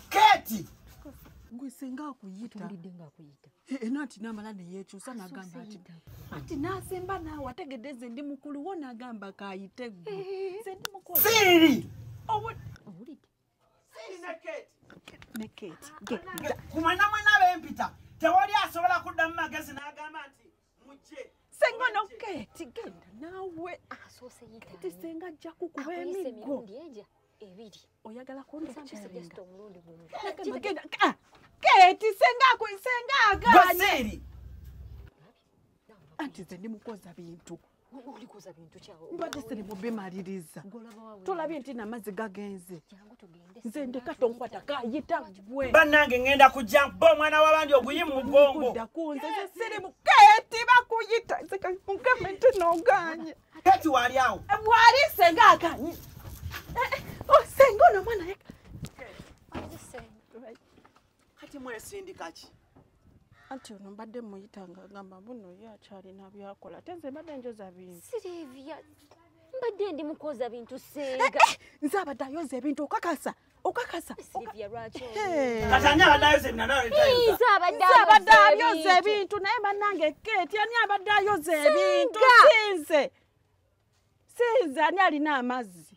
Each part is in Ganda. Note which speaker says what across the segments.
Speaker 1: kati gwe
Speaker 2: senga akuyita tulidde nga akuyita
Speaker 3: eh, eh, nati namala
Speaker 2: neyekyusa nagamba ati ati nasemba naawe ategedde nze ndi mukulu wo nagamba kayite gwe eh, nze ndi mukulu siri
Speaker 1: owulidde
Speaker 3: siri
Speaker 1: ne kate ne kate kumwana
Speaker 2: mwana bempita
Speaker 1: tewali asobola kuddamu magezi nagamba nti senga ono
Speaker 2: keti genda naawe keti
Speaker 3: senga ajja
Speaker 2: kukuba emiggo ebiri
Speaker 3: oyagala
Speaker 2: kundekyalinga
Speaker 3: ah,
Speaker 2: keti senga senga aganye anti nze ndimukoza bintu olikuza bintu
Speaker 3: kyawo mbadde siri mubimaliriza
Speaker 2: tolabye
Speaker 3: nti namazzi
Speaker 2: gagenze nze
Speaker 3: ndeka tonkwata
Speaker 2: kayita gwe bannange ngenda kujja
Speaker 1: bo omwana wabandi oguyi mu mugongo dakunze ze
Speaker 2: siri muketi bakuyita nzekankugamba nti noganye keti wali awo
Speaker 1: wali senga
Speaker 2: akanyi eh, eh, oh, senga ono mwana yeka
Speaker 1: kati mwesindika ki anti ono
Speaker 2: mbadde muyita nga agamba buno ye akyalina byakola ate nze mbadde njoza bintu sirivya
Speaker 3: mbadde ndi mukoza bintu senga eh, eh, nze abadde ayoza
Speaker 2: ebintu okakasa okakasa
Speaker 1: abadde
Speaker 3: ayoza
Speaker 2: ebintu naye banange keti ani abadde ayoza ebintu sinze sinze ani alina amazzi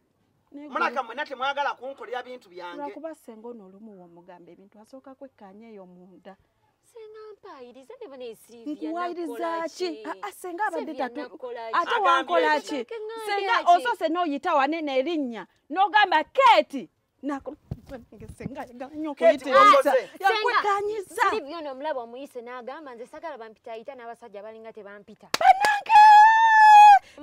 Speaker 1: mulaka mwena temwagala kunkolera bintu byangelwakuba senga ono olumu
Speaker 2: womugamba ebintu asooka kwekkanya eyo munda
Speaker 3: nkuwayirizaaki
Speaker 2: senga abadde tatu ate wankolaki senga osose noyita wanene erinnya nogamba keeti nakuyitanyiza byona omulaba
Speaker 3: omuyise n'agamba nze sagala bampitayita n'abasajja balinga tebampita banange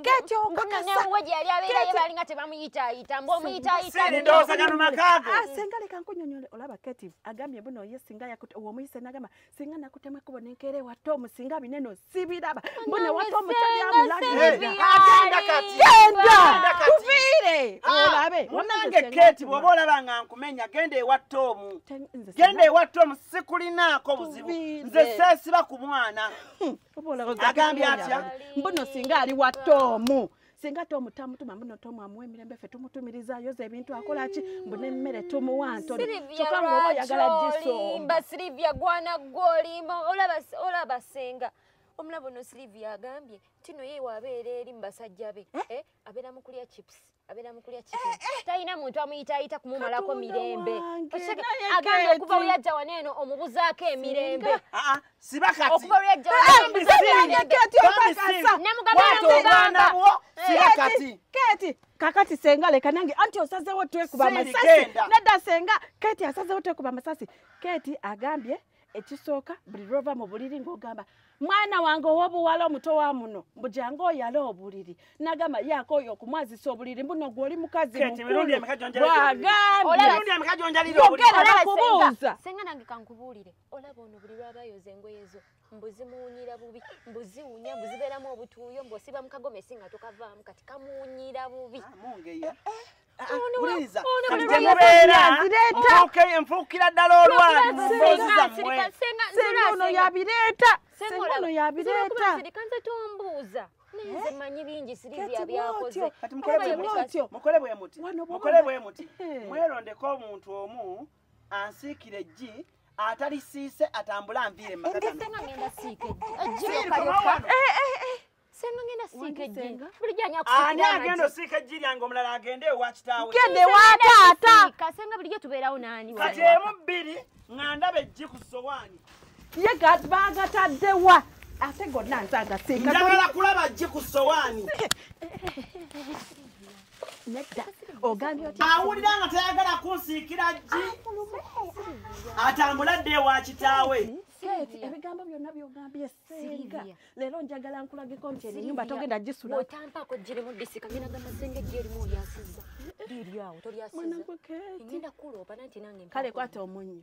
Speaker 2: kati okakasaabalinga
Speaker 3: tebamuyitayita mbu omuyitayitasenga
Speaker 1: ah, leka nkunyonyole
Speaker 2: olaba kati agambye buno ye singa omuyise n'agamba singa nakutema ekubo nenkeera ewatta omusinga bineno sibiraba mbone wata omukyali amulagenda tuviire ah, olabe munange keti
Speaker 1: bwoba olaba nga nkumenya genda ewatta omu genda ewatta omu sikulinaako buzibu nze seesiba ku mwana hmm, agambye atya mbuno singa ali
Speaker 2: watta omu singa tom tamutuma mbuno tom amuwa emirembe ffe tumutumiriza ayoza ebintu akola ki mbu nemmere tumuwa ntonokyokka ngaoba oyagala
Speaker 3: gisoomba silivia gwana gwolimba olaba senga omulabo no silivia agambye tino ye wabeera eri mubasajja be eh? eh, abeera mukulya chips abeera mukulya eh, chicken talina muntu amuyitaayita kumumalako mirembe agambye okuva weyajja waneeno omubuzaako emirembe ah, ah. siba
Speaker 1: kati
Speaker 3: bambi sirinemugambaana bwo
Speaker 2: siba kati keti kakati senga leka nange anti osazewo twekuba amasasi nedda senga keti asazewo twekuba amasasi keti agambye ekisooka buli lwova mu buliri ng'ogamba mwana wange ow'obuwala omuto wa muno mbu jange oyale obuliri nagamba yaako oyo okumwazisa obuliri mbuno gwe oli mukazi mukulubwagambyeogerera
Speaker 3: kubuuza senga nange kankubuulire olaba ono buli lwaba ayoza engoye zo mbu zimuwunyira bubi mbu ziwunya mbu zibeeramu obutuuyo mbu osiba mu kagomesi nga tokavaamu kati kamuwunyira bubi ah, mungeya eh, eh. ah, ah, wuliriza
Speaker 1: kati gyemubeera mubuuke enfuukira ddala olwali mu mboozi zammwe senga ono
Speaker 2: yabireeta senga ono yabireeta kanze tombuuza
Speaker 3: nze eh? manyi bingi siribya byakoze kati mukole bwe
Speaker 1: muti mukole bwe muti mukole bwe muti mwerondeko omuntu omu ansiikira eggi atalisiise atambule anviire mu maka
Speaker 3: gano. ani agenda osiika eggi lyange
Speaker 1: omulala agende ewa kitaawe gende wa taata
Speaker 2: kati emu bbiri
Speaker 3: nga ndaba
Speaker 1: eggi ku sowaani ye
Speaker 2: bagataddewa ate gonna nze agasiika njagala kulaba ggi
Speaker 1: ku sowaani
Speaker 2: awulira nga tayagala
Speaker 1: kunsiikira jji atambula dde ewa kitaawe seeti ebigambo
Speaker 2: byonna byogambye senga leero njagala nkulageko nti enyumba togenda gisulaotampaako jirimu
Speaker 3: disika ngenda gamba senga ejji erimu olyasiza liryawo tolyasiza ngenda
Speaker 2: kuloopa nanti
Speaker 3: nange kale kwata
Speaker 2: omunnyo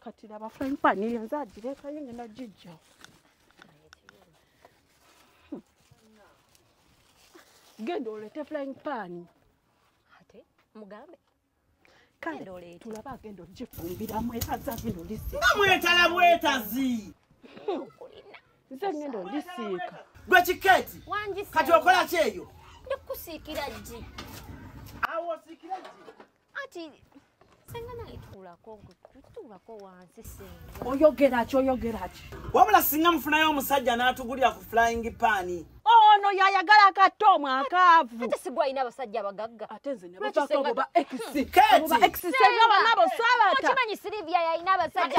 Speaker 2: kati laba frying pan eyo nze agirekayo ngenda gijja hmm. genda olete flying pan ate
Speaker 3: mugambe kale
Speaker 2: tulaba agenda ogifumbiramu etazi agenda olisiika nga mwetala bwetazi nze ngenda olisiika gwe kikeeti
Speaker 1: kati okola kyeyo ndikusiikira
Speaker 3: gi awo
Speaker 1: osiikira gi Ati
Speaker 3: senga naye tuulako tuulako wansi senga. Oyogera ki oyogera
Speaker 2: ki? Wabula
Speaker 1: singa mufunayo omusajja n'atugulira ku flying pan. ono yayagala
Speaker 2: akatta omwakaavu ate sigwa alina abasajja
Speaker 3: abagagga ate nze nebobakoba
Speaker 2: exsbanabo sabatakimanyi silivia yalina
Speaker 3: abasajja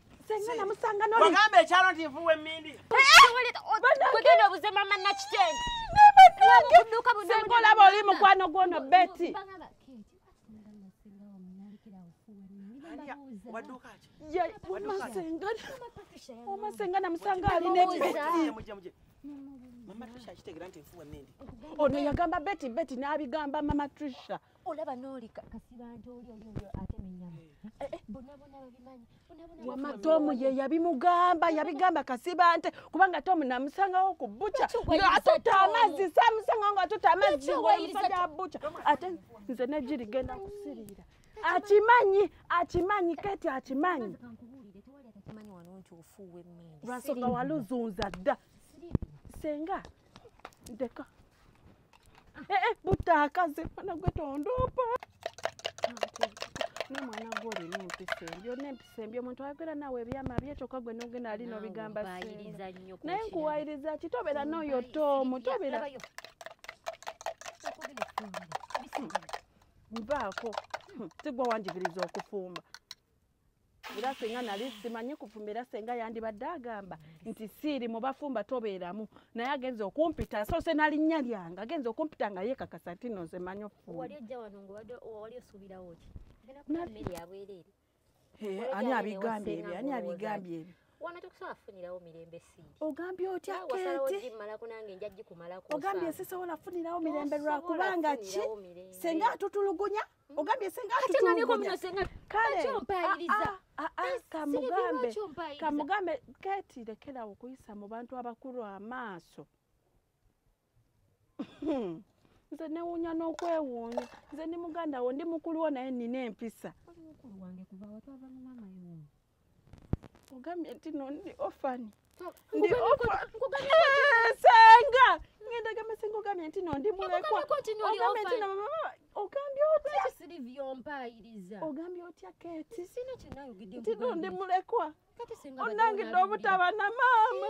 Speaker 2: senga namusanga noli wagamba ekyalo nti nvuwa
Speaker 1: emmindi
Speaker 3: kugenda obuze mama nakitende
Speaker 2: senga olaba oli mukwano gwono beti omasenga namusanga alina
Speaker 1: ono yagamba
Speaker 2: beti beti n'abigamba mama trisha olaba noli
Speaker 3: kasibante oli oli oli atema enyama eh. Eh, eh, bonabona babimanyi wama
Speaker 2: tomu ye yabimugamba yabigamba kasibante kubanga tomu namusangawo ku buca atuta amazzi samusangawo nga atuta amazzi ngomusajja wa buca ate nze negiri genda kusirira akimanyi akimanyi kati akimanyi lwasoka waluzunza dda senga ndeka Eh, eh, butaakaze mwana gwe tondoopa ne mwana gwe olina empisa embi olina empisa embi omuntu ayogera naawe ebyama bye kyokka gwe nogenda ali nobigamba Nkuwayiriza nnyo ku naye kirala. nkuwayiriza ki tobeera n'oyo toomu tobeera Labayo. nvaako Hmm, sigwa wanjigiriza okufumba era senga nali simanyi kufumba era senga yandibadde agamba nti siiri mubafumba tobeeramu naye agenza okumpita soose nalinnya lyange agenza okumpita nga yekakasa nti no nze manyi
Speaker 3: okufumaani
Speaker 2: abigambye ebyo ani abigambye ebyo wana tokusobola kufunirawo
Speaker 3: mirembe sii ogambye otya keteogambye sisobola
Speaker 2: kufunirawo mirembe lwakubanga ki senga atutulugunya ogambye senga atutulugunya kale kamugambe kamugambe keti lekerawo okuyisa mu bantu abakulu amaaso nze newunya n'okwewuunya nze ndi muganda wo ndi mukulu wo naye nina empisa ogambye nti no ndi ofani ndi eh, senga ngenda gamba senga ogambye nti no ndi mulekwa ogambye nti nomama ogambye otyaompayiriza
Speaker 3: ogambye otya
Speaker 2: keti nti
Speaker 3: no ndi mulekwa
Speaker 2: onangidde
Speaker 3: obutaba
Speaker 2: na maama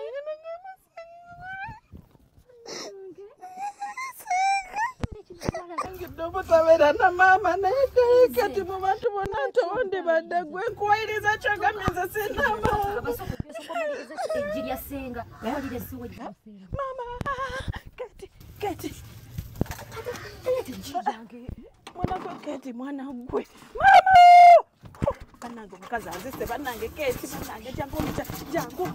Speaker 2: obutabeera na maama naye kati mu bantu bonna tondi badde gwe nkuwayiriza kyogambye nze sina
Speaker 3: maama
Speaker 2: kati kati mwanagwe kati mwana gwe maama banange omukazi anzise banange keti banange jangu omuca jangu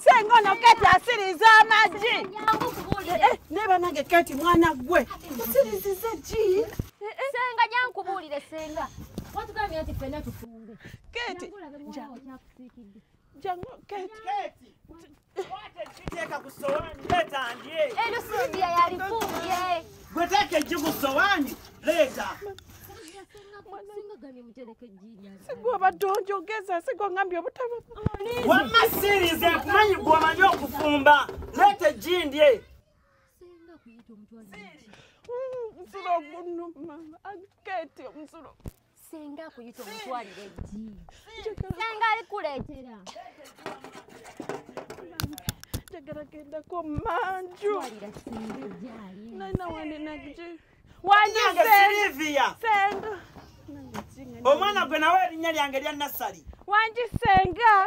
Speaker 2: senga ono keti asiriza amagi eh, eh, naye banange keti mwana gwe osiriziza gi eh, senga
Speaker 3: jankubuulire senga watugambye nti fena tufunge keti
Speaker 2: jangu keti
Speaker 3: Teeka
Speaker 1: ku ssowaani leeta
Speaker 3: ndye. Eryo Sylvia yalifumbye. Gwe teeka eggi ku ssowaani leeta. Sigwaba tonjogeza
Speaker 2: sigwa ngambye obutaba. Wamma
Speaker 1: sirize kumanyi gwe omanyi okufumba leeta eggi ndye.
Speaker 3: Siri. Mzuro,
Speaker 2: mama, aketi, mzuro. senga akuyita
Speaker 3: omutwalire ddi senga alikuleetera
Speaker 2: njagala gendako manju
Speaker 3: nalina wanenagje
Speaker 1: wanjisenda omwana gwe nawe erinnya lyange lya nassali wanjisenga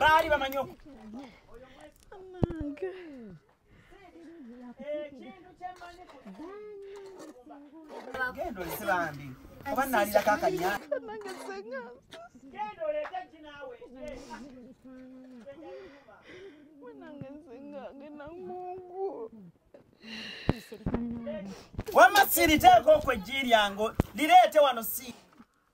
Speaker 1: baali bamanyi oku
Speaker 2: genda
Speaker 1: olese bambi oba nalira kakanya wama siriteeko okwo ejji lyango lireete wano si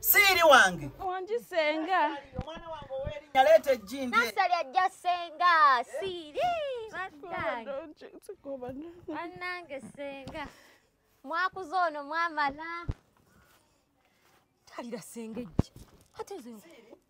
Speaker 1: siiri wange wangi senga
Speaker 2: omwana wange
Speaker 1: owerinya leeta ejjindi nasali ajja senga
Speaker 3: siiri anange senga mwakuza ono mwamala talira senga ejji ate nze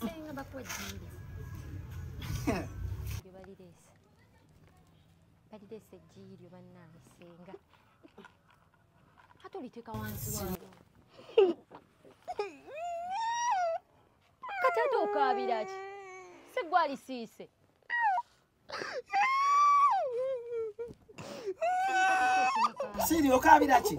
Speaker 3: senga bakuwa jjimbi lyo balireese balireese ejjiyi lyo bannange senga ate oliteeka wansi wao kati ate okaabira ki si gwalisiise
Speaker 1: siri okaabira ki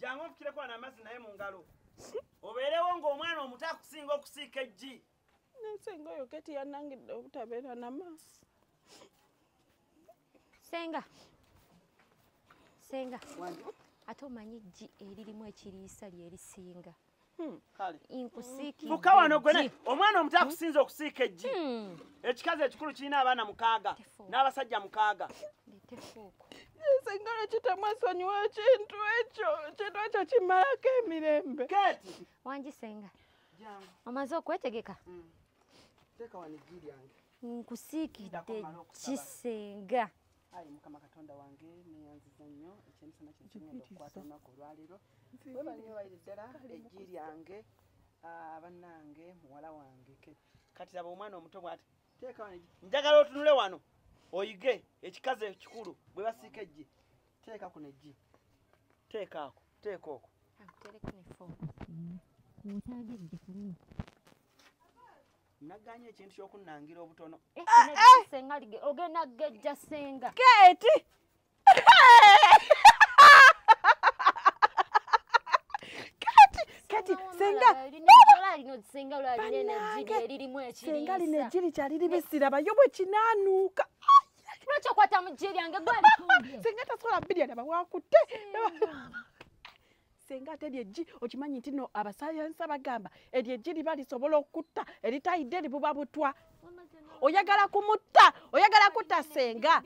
Speaker 2: jangu nfukireko
Speaker 1: ana amazzi naye mu ngalo obeerewo ng'omwana omuto akusinga okusiika eggi nasenga oyo
Speaker 2: keti yanangidde obutabeera na maaso
Speaker 3: senga senga ate omanyi eggi eririmu ekiriisa lyerisinga
Speaker 1: Hmm. fuka
Speaker 3: wano gwene
Speaker 1: omwana omuto hmm. akusinza okusiika eggi hmm. ekikazi ekikulu kirina abaana mukaaga n'abasajja mukaaga
Speaker 3: singalo
Speaker 2: kitamwesonyiwa ekintu ekyo ekintu ekyo kimalako emirembe kati wangi
Speaker 1: senga
Speaker 3: omaze
Speaker 1: okwetegeka nkusiikidde
Speaker 3: kisenga ayi
Speaker 1: mukama katonda wange neyanziza nnyo ekyemisana kino kirungi okukwata olunaku olwaleero webanyiwaire ddala eggi lyange ah, banange muwala wange kati laba omwana omuto bwati njagala otunule wano oyige ekikazi ekikulu bwe basiika eggi teeka kuno eggi teeka ako teeka oko naganye ekintu kyokunangira obutono eh, eh,
Speaker 3: eh! ogenda gejja senga keti
Speaker 2: senga lino
Speaker 3: ejji likyali
Speaker 2: libisira bayo bwe kinaanuuka lwaki
Speaker 3: okwata mu jji lyange gwali senga tasobola birya
Speaker 2: naba wakutte senga ate eryo eggi okimanyi nti no abasayansa bagamba eryo eggi liba lisobola okutta eritayidde libuba butwa oyagala kumutta oyagala kutta senga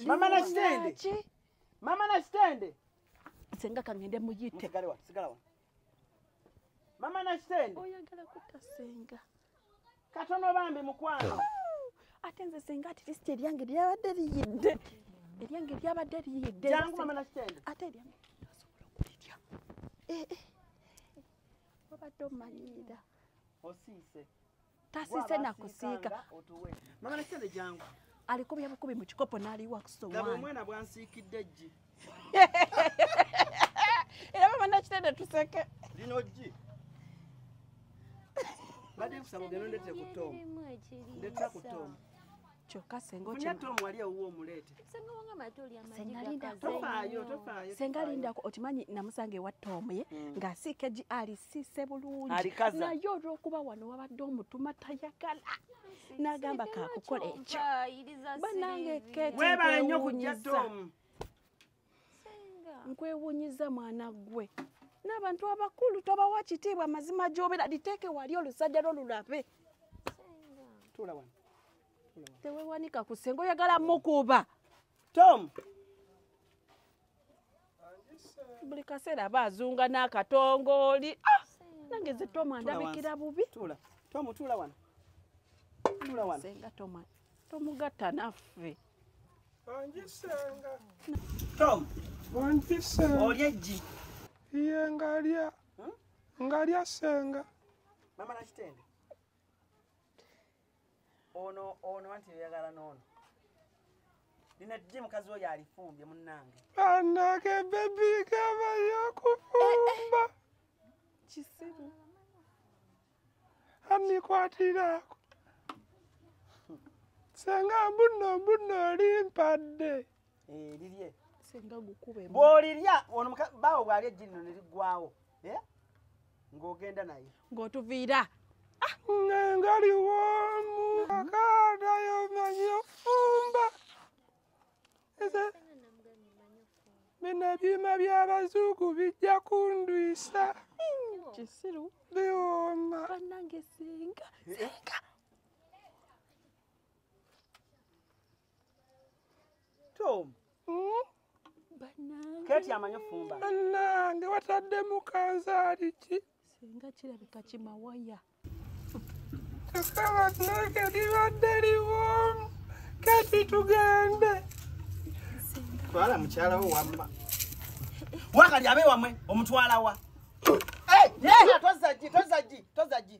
Speaker 1: mama nakitende mama nakitende senga
Speaker 2: kangende muyite mama nakitende oyagala
Speaker 1: kutta
Speaker 2: senga katono
Speaker 1: bambi mukwano ate nze
Speaker 2: senga at least eryange lyabadde liyidde eryange lyabadde liyidde
Speaker 1: ate eryange
Speaker 2: asobola okulirya eh, eh. obadde omanyiira osiise
Speaker 1: tasiise
Speaker 2: nakusiika
Speaker 1: alikubya bukubi mu
Speaker 2: kikopo n'aliwa kusowaani era baba nakitende tuseke lino gi
Speaker 1: bade kusaba ogenda ondetera ku tom ndetera ku tom kyokka sengasenga lindako
Speaker 2: okimanyi namusanga ewa tomu ye hmm. ng'asiika gi alisiise bulungi naye olw'okuba
Speaker 1: wano
Speaker 2: wabadde omutuma tayagala nagamba kakukola ekyo banange webale nyo kujja
Speaker 1: tomu
Speaker 2: nkwewunyiza mwana gwe n'abantu abakulu tobawa kitiibwa amazima gyobera liteeke wali olusajja lwo lulabe
Speaker 1: tewewanika
Speaker 2: ku senga oyagala mukuba tom buli kaseera aba azunga n'akatongooli ah! nange ze toma ndabikira bubi senga toma
Speaker 1: tomugatta
Speaker 2: naffe
Speaker 4: olya eggi
Speaker 1: iye
Speaker 4: ngalya hmm? ngalya senga mama
Speaker 1: nakitende ono ono anti oyagala n'ono lino ddi mukazi oyo alifumbye munnange anage
Speaker 4: bebi gaba yakufumba eh, eh.
Speaker 2: kisiru
Speaker 4: amikwatiraako senga mbuno mbuno olimpadde Eh, lirye
Speaker 1: singa gukube
Speaker 2: bwolirya ono
Speaker 1: baawo bwalya ejji lino neriggwawo eh? ng'ogenda naye ng'otuviira
Speaker 2: ah!
Speaker 4: ngaliwomu akadayo manyi ofumba bino ebyuma by'abazuugu bijja kundwisa kisiru
Speaker 2: biwooma banange singa singa
Speaker 1: tom hmm? keti amanyi ofumba nange
Speaker 4: wataddemu kanzaali ki singa kirabika
Speaker 2: kimawaya kakaba
Speaker 4: nange libadde liwomu kati tugende
Speaker 1: twala mukyalawo wamma wakali abe wamwe omutwalawa tozagi tozagi tozagi